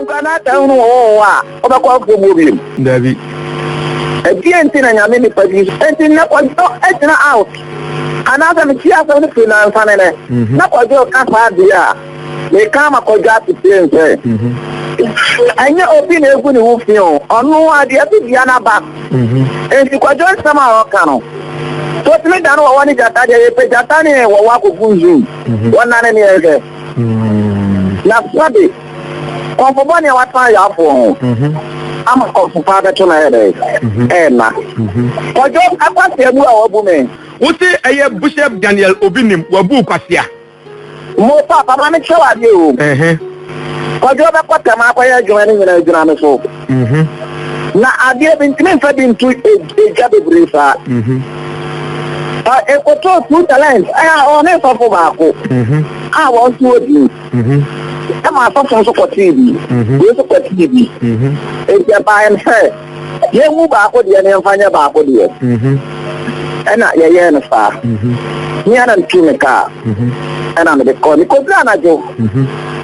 Nkwa na sɛ hunu wɔn wɔn a, wɔbɛkɔ afuo mu obiom. Dabi. Ɛdeɛ nti na nyame nipa bi so. Nti nnɛ kwadwo agyina out. Anaasɛ metie asɛm no firi nansa ne nɛ. Mhm. Na kwadwo ka saa deɛ a, meka ama kwadwo asetie nsɛ. Mhm. Ɛnyɛ obi na egu ne ho fi o, ɔno adeɛ so dua no aba. Mhm. Nti kwadwo nsɛm a ɔka no, sotumi da no wɔwɔ ne gyata deɛ yɛpɛ gyata ne wɔwɔ akɔgu nzum. Wɔnane ne yɛnhwɛ. Na sua de, kɔmfo bɔne a watan ayɛ afoɔ ho ama kɔmfo paa bɛto no ayɛ dɛn? Ɛnna. Kɔdwo akwasea bu a wabu me. Wo se ɛyɛ Bishop Daniel Obi nim wabu wo kwasea? Mo papa ma me kyerɛ wo adeɛ o. Kɔdwo bɛkɔ tɛm akɔyɛ adwuma ne nyinaa agyina me so. Mm-hmm. Na adeɛ bi ntumi nfa bi nto egya bebree saa. Ekoto mm-hmm. two talent ɛyà ɔne nsɔfo baako mm-hmm. a wɔn to odi ɛma asɔfo nso kɔ tii bi wei nso kɔ tii bi eti ɛbaa yɛn sɛ yɛn mu baako deɛ ne nfa nyɛ baako deɛ ɛna yɛyɛ no saa ne yɛn na ne tu ne kaa ɛna ne de kɔ ne kɔ bi anadwo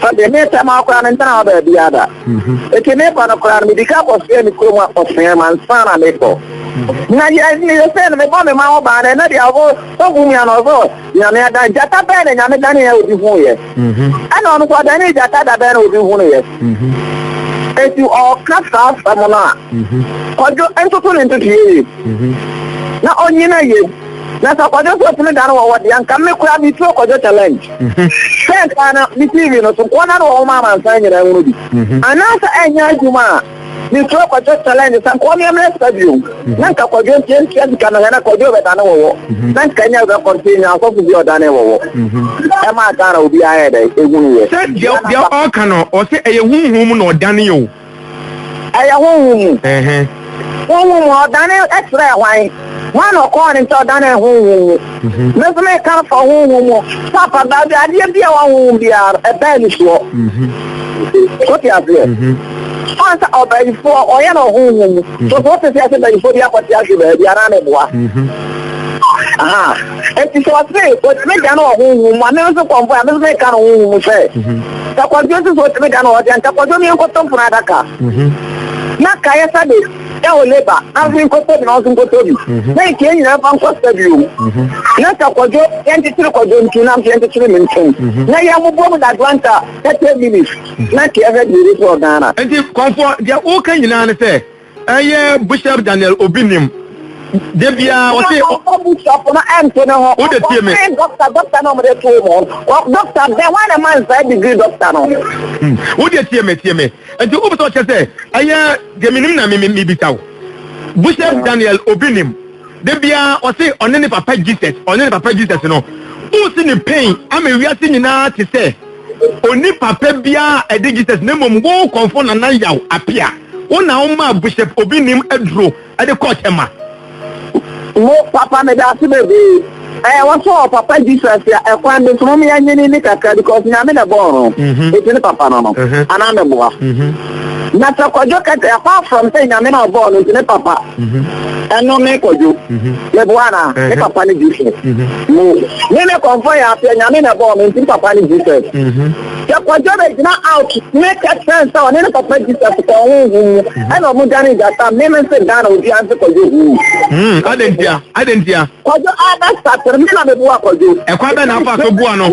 sɛ deɛ ne tɛm akora ne ntɛn a ɔbɛ bi ada. Enti mekɔ no koraa no, medi kan kɔsoɛ me kurom akɔsoɛ ansa na mekɔ. Na meyɛ sɛ no mebɔ me ma wɔbaa no, ɛnɛ deɛ ɔbɔ sɔfo nua no ɔsɛ Nyame adan gyata bɛn na Nyame danee a obi huuiɛ? Ɛna ɔno nso ɔdanee gyata da bɛn na obi hunuiɛ? Enti ɔka saa asɛm no a, Kwadwo ntoto ne ntotoeɛ yie na ɔnyina yie. Na sɛ kwadwo so otumi dan wɔ hɔ deɛ anka me koraa me turo kwadwo challenge sɛ nka no me tv no so nkoa na no wɔ hɔ ma amansan nyinaa hunu bi anaasɛ ɛnyɛ adwuma a me turo kwadwo challenge sɛ nkoa meɛ mmerɛ sika bio na nka kwadwo ntiɛ ntua sika no hɛ na kwadwo bɛdane wɔ hɔ na nka nyɛ bɛ kɔnte nya asɔfo bi ɔdane wɔ hɔ ɛma Ghana obiara yɛ dɛ ɛhunu yɛ sɛ deɛ ɔka no ɔsɛ ɛyɛ huhum na ɔdane o Ɛyɛ honhom mu. Honhom mu a, ɔdanee kyerɛɛ hwan? Hwan na ɔkɔɔ ne nkyɛn ɔdanee honhom mu? Me nso meka afa honhom mu. Papa, baabi a adeɛ bi a ɛwɔ honhom biara no, ɛbɛn ne soɔ. Wote aseɛ? Ɔn sɛ ɔbayifoɔ, ɔyɛ no wɔ honhom mu. So so wote sɛ yɛse bayifoɔ bi akɔte ahwe baabi anaa ne boa? Aha. Enti sɛ ɔse ɔtumi dane wɔ honhom mu a, me nso kɔmfoɔ a, me nso meka no honhom mu sɛ, sɛ kwadwo nso sɛ ɔtumi da no ɔda nka kwadwo no yɛnkɔtɔ mpono adaka mhm. na kaeɛ sa de da wɔ leba na nso nkɔtɔ bi na ɔnso nkɔtɔ bi mhm. na ntia nyinaa fa nkɔ sa bio mhm. na sɛ kwadwo yɛntetere kwadwo nti na nso yɛntetere me ntɛm na yɛmmobɔ mu dagranta 30 minutes na ntia hwɛ deɛ ɛbɛsi wɔ ghana nti kɔmfoɔ deɛ woka nyinaa ne sɛ Ɛyɛ Bishop Daniel Obi nim de biara ɔse. Ɛna ɔkɔ Bishop no ɛnto ne ho. Wode tie me. Ɔkɔ fɛn doctor doctor na ɔmode too mo. Doctor bɛn hwan na ɛma no saa degree doctor no. Hmm wode tie me tie me. Nti wopɛ sɛ ɔkyɛ sɛ ɛyɛ deɛ menim na mebisa wo. Bishop Daniel Obi nim de biara ɔse ɔne ne papa Jesus ɔne ne papa Jesus no. Wosi ne pain ama wiase nyinaa te sɛ. Onni papa biaa a ɛde Jesus na mmom wo kɔmfo Nana Yaw Apia. Wo na wo maa Bishop Obi Nim aduro de kɔɔ Tema. Mo papa medase bebee ɛɛ wɔsɔ ɔ papa Jesus a ɛkwan be so mom yɛ nyene ne kakra because nyame na ɛbɔɔ no eti ne papa no no anaa meboa. Na sɛ kwadwo ka sɛ apart from sɛ nyame na ɔbɔɔ no nti ne papa ɛno me kwadwo meboa na me papa ne Jesus mo me me kɔmfɔ yɛ aseɛ nyame na ɛbɔɔ me nti me papa ne Jesus sɛ kwadwo bɛ gyina out me kɛ sɛn sɛ ɔne ne papa Jesus kɔ ɔho hu mu ɛna ɔmo gya ne gyata me me nse Ghana obi anse kwadwo hu adentia adentia kwadwo abɛ satere me na meboa kwadwo ɛkwa bɛ na afa so boa no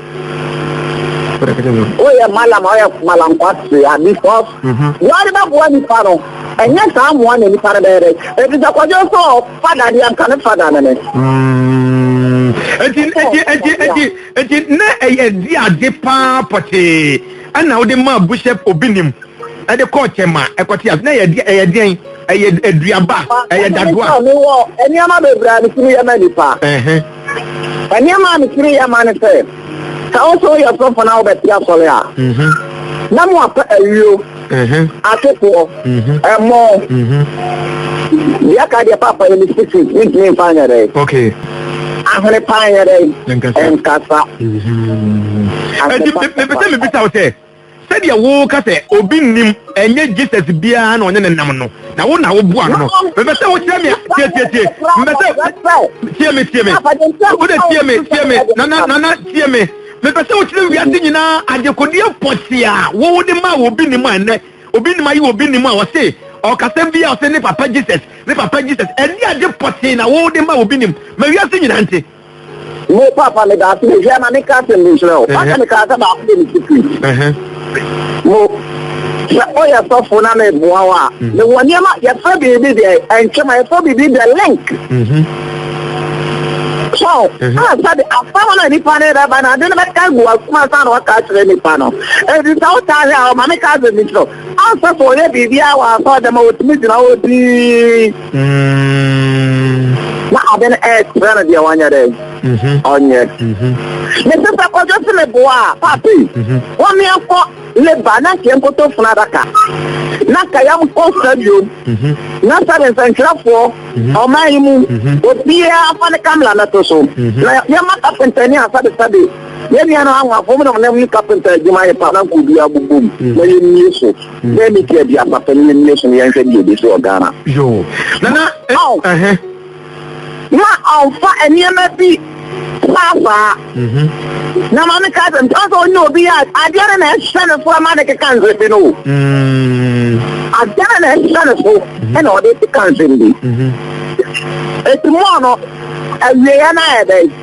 woyɛ malam ɔyɛ malam kwase abi fɔs buhari bɛ bua nipa no ɛnyɛ saa mmoa na nipa no bɛyɛ dɛ ebi sɛ kɔjɔ sɛ ɔfada deɛ nka ne fada no ne. eti eti eti eti eti na ɛyɛ di ade paa pɔtee ɛna wode maa buhyɛ obi nim ɛde kɔɔ kyɛm a ɛkɔte ase na ɛyɛ di ɛyɛ deɛn ɛyɛ aduaba ɛyɛ dadoa. ɛnneɛma bebree a ne tumi yɛ ma nipa. Nneɛma a metumi yɛ ma ne sɛ, sɛ wo sɛ woyɛ sɔfo na wobɛte asɔre a, mhm. na mo apɛ ayuo, mhm. atefoɔ, mhm. ɛmɔ. Deɛ ka deɛ papa yɛ ne sisi, mentumi mfa nyɛ dɛ. Ahene paa nyɛ dɛ, ɛnkasa. Ɛnti mepɛ sɛ mebisa wo sɛ, Sɛdeɛ wo ka sɛ obi nnim ɛnyɛ Jesus biara na ɔne no nam no na wo na wo boa no no mepɛ sɛ wo kyerɛ me a tie tie tie mepɛ sɛ tie me tie me wo de tie me tie me nana nana tie me mepɛ sɛ wo kyerɛ wiase nyinaa adekodeɛ pɔtee a wo wo de ma a obi nnim a ɛnɛ obi nnim ayi obi nnim a ɔse ɔkasɛm bi a ɔse ne papa Jesus ne papa Jesus ɛne ade pɔtee na wo de ma obi nnim ma wiase nyinaa nte mo papa me daase me hwɛ ma me ka asɛm bi nkyerɛ o papa me ka sɛ baako de me sikiri mo sɛ ɔyɛ sɔfo na me boa wa me wɔ nneɛma yɛfrɛ biribi deɛ ɛntwɛma yɛfrɛ biribi deɛ link so a sɛde asɛm na nipa ne bɛba na ade no bɛka gu akoma sa na waka akyerɛ nipa no ɛdi sɛ wotaa hwɛ a ɔma me ka asɛm bi nkyerɛ Ansa sɛ ɔyɛ biribiara wɔ asɔrdan mu a, otumi gyina hɔ dinn. Mm. Na ade no ɛkyerɛ no deɛ wɔnyɛ dɛ. Mhm. Ɔnyɛ. Mhm. Mese sɛ kɔdwo se meboa a, papi, mhm. wɔmeɛ kɔ leba na nkeɛ nkoto funu adaka. Na kayam kɔ stadium. Na sɛde nsɛnkyerɛfoɔ ɔman yi mu obiara fa ne kamla no to so. Na yɛma kapentani a sɛde sɛde Yɛn nuanom anwanfo nom nam ne kapenta adwuma ayɛ paa na nka obi abobɔ mu mm. na yɛmmie so. Mm. Bɛɛ ne ti adi asafo no yɛmmie so na yɛnhwɛ deɛ ɛbɛsi wɔ Ghana. Yoo. Nana. Eh, eh. Na ɔmfa nneɛma bi paasaa. Mhm. Na maame ka sɛ mpɛ sɛ ɔnyɛ obi a adeɛ no na ɛhyɛ ne so ama ne keka nsɛm bi no o. Mm. Adeɛ no na ɛhyɛ ne so mhm. ɛna ɔde keka nsɛm bi. Mhm. Eti mɔɔ no awieɛ no ayɛ dɛn.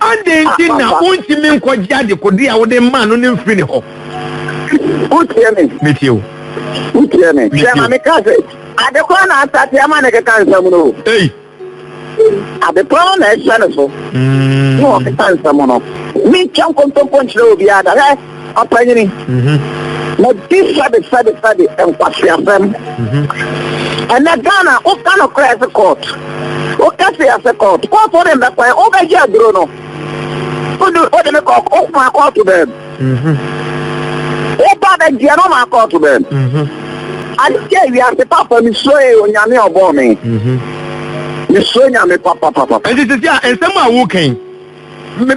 Adɛn nti na wontumi nkɔgye adekode a wode maa no no mfiri ne hɔ? Wotie me? Metie o. Wotie me? Sɛ ma meka sɛ, ade korɔ na asate ama ne keka nsɛm no o. Ei! Ade korɔ na ɛhyɛ no so. Mm. Na ɔkeka nsɛm no. Mentwa nkontompo nkyerɛ obiara da. Hwɛ! Ɔpanyini, mabisa bisa bisa de nkwaseasɛm. Mhm. Ɛnɛ Ghana woka no kora ɛse court. Woka se ɛse court. Court wode mbɛkɔɛ wobɛgye aduro no. Wode me kɔ woma court bɛm. Mhm. Woba bɛgyeɛ no woma court bɛm. Mhm. Adeɛ wiase papa mesuo yɛ onyame ɔbɔɔ me. Mesuo nyame papapapa. Ɛnti sisi a nsɛm a wokan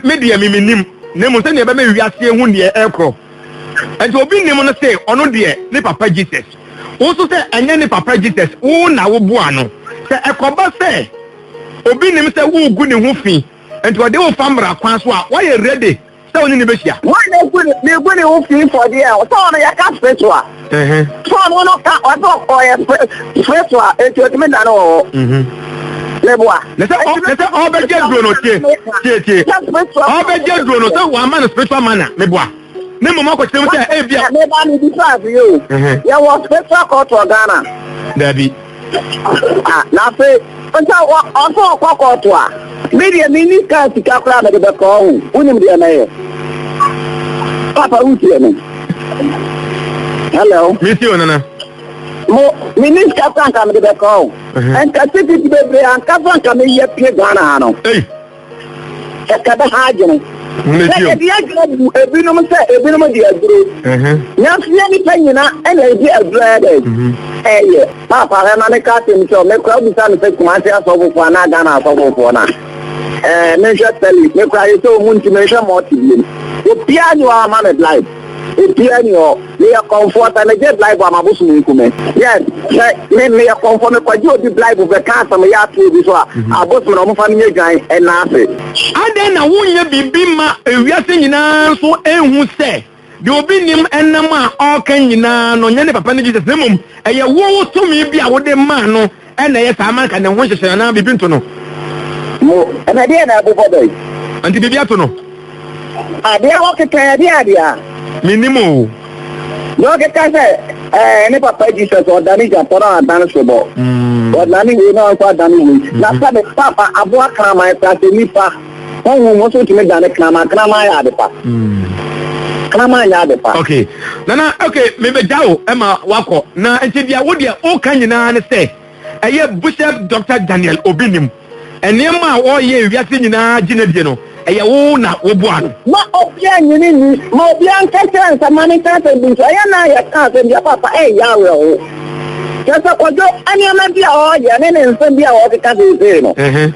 me deɛ me menim na mmom sɛdeɛ ɛbɛma wiase hu deɛ ɛkorɔ ɛnti obi nim no se ɔno deɛ ne papa Jesus wo nso sɛ ɛnyɛ ne papa Jesus wo na wo boa no sɛ ɛkɔba sɛ obi nim sɛ wogu ne ho fi ɛnti ɔde wo fa mmara kwan so a woayɛ ready sɛ wo ne ne bɛhyia. Woayɛ gu ne ho fi for deɛ sɛ ɔno yɛka spiritual. Mm-hmm. Sɔɔ no no ka ɔsɛ ɔyɛ fɛ so a eti otumi da no wɔ hɔ. Mm-hmm. Ne boa. Ne sɛ ɔ ne sɛ ɔbɛgye duro no tie tie tie ɔbɛgye duro no sɛ wama no spiritual manner ne boa ne mmom akɔkyerɛ mu sɛ ebi a. Ɛbɛba ne bi faa fi yɛ o. Yɛ wɔ spiritual culture Ghana. Dabi. Ah, na afei nso wɔ ɔso ɔkɔ kɔɔto a me deɛ menni kaa sika koraa mede bɛkɔɔ ho wonim deɛ mɛyɛ papa wotie me hello mesi o nana mo menni sika koraa nka mede bɛkɔɔ ho nka sikiti bebree ankasa nka meyɛ pie ghana ha no sɛ kɛbɛ ha adwene sɛ yɛde adwuma bu ebinom sɛ ebinom de aduro nanso yɛ nipa nyina ɛna ɛde aduro ayɛ dɛ ɛyɛ paapa hɛ ma meka asɛm sɛ mekora abusa no sɛ kumase asɔfofoɔ anaa ghana asɔfofoɔ no a ɛɛ menhwɛ sɛli mekora yɛ sɛ ɔmu nti menhwɛ mɔte biom obiaa ne ɔama me blind Ebia ni hɔ, meyɛ kɔmfoɔ, sɛ megye blaibo a m'abosom nku me. Yes, sɛ me, meyɛ kɔmfoɔ, mekɔgye obi blaibo bɛka asɛm yaateɛ bi so a, abosom no, wɔmfa no nyɛ dwan nna ase. Adɛn na wonyɛ biribi mma wiase nyinaa nso nhu sɛ deɛ obi nim nam a ɔreka nyinaa no nyɛ ne papa ne Jesus na mmom ɛyɛ wo tumi bi a wode maa no Ɛna ɛyɛ saa ma anka ne ho nhyehyɛe anaa biribi nto no. Mu, ɛna ɛdeɛ na ɛbobɔ dɔ yi. Nti biribi ato no. Adeɛ hɔ keka ɛdeɛ adeɛ a. Mennim o. Deɛ ɔkeka sɛ ɛɛ ne papa Jesus ɔdane gyapɔ na ɔadane sobɔ. Ɔdane wei na ɔnso adane wei. Na sɛ ne papa aboa kraman kora sɛ nipa. honhom nso tumi dane kraman kraman yɛ ade pa hmm. kraman nyɛ ade pa. ok nana ok mebɛgya wo ma wakɔ na nti deɛ wo deɛ woka nyinaa ne sɛ ɛyɛ bishop dr daniel obi nim nneɛma a wɔyɛ wiase nyinaa gyina die no ɛyɛ wo na woboa no. ma obia nyini ni ma obia nka kyerɛ nsa ma ne nka asɛm bi nso ɛyɛ na yɛ ka asɛm bi apapa ɛyɛ awerɛho kyɛ sɛ kɔdwo nneɛma bi a ɔyɛ ne ne nsɛm bi a wɔkeka seesei no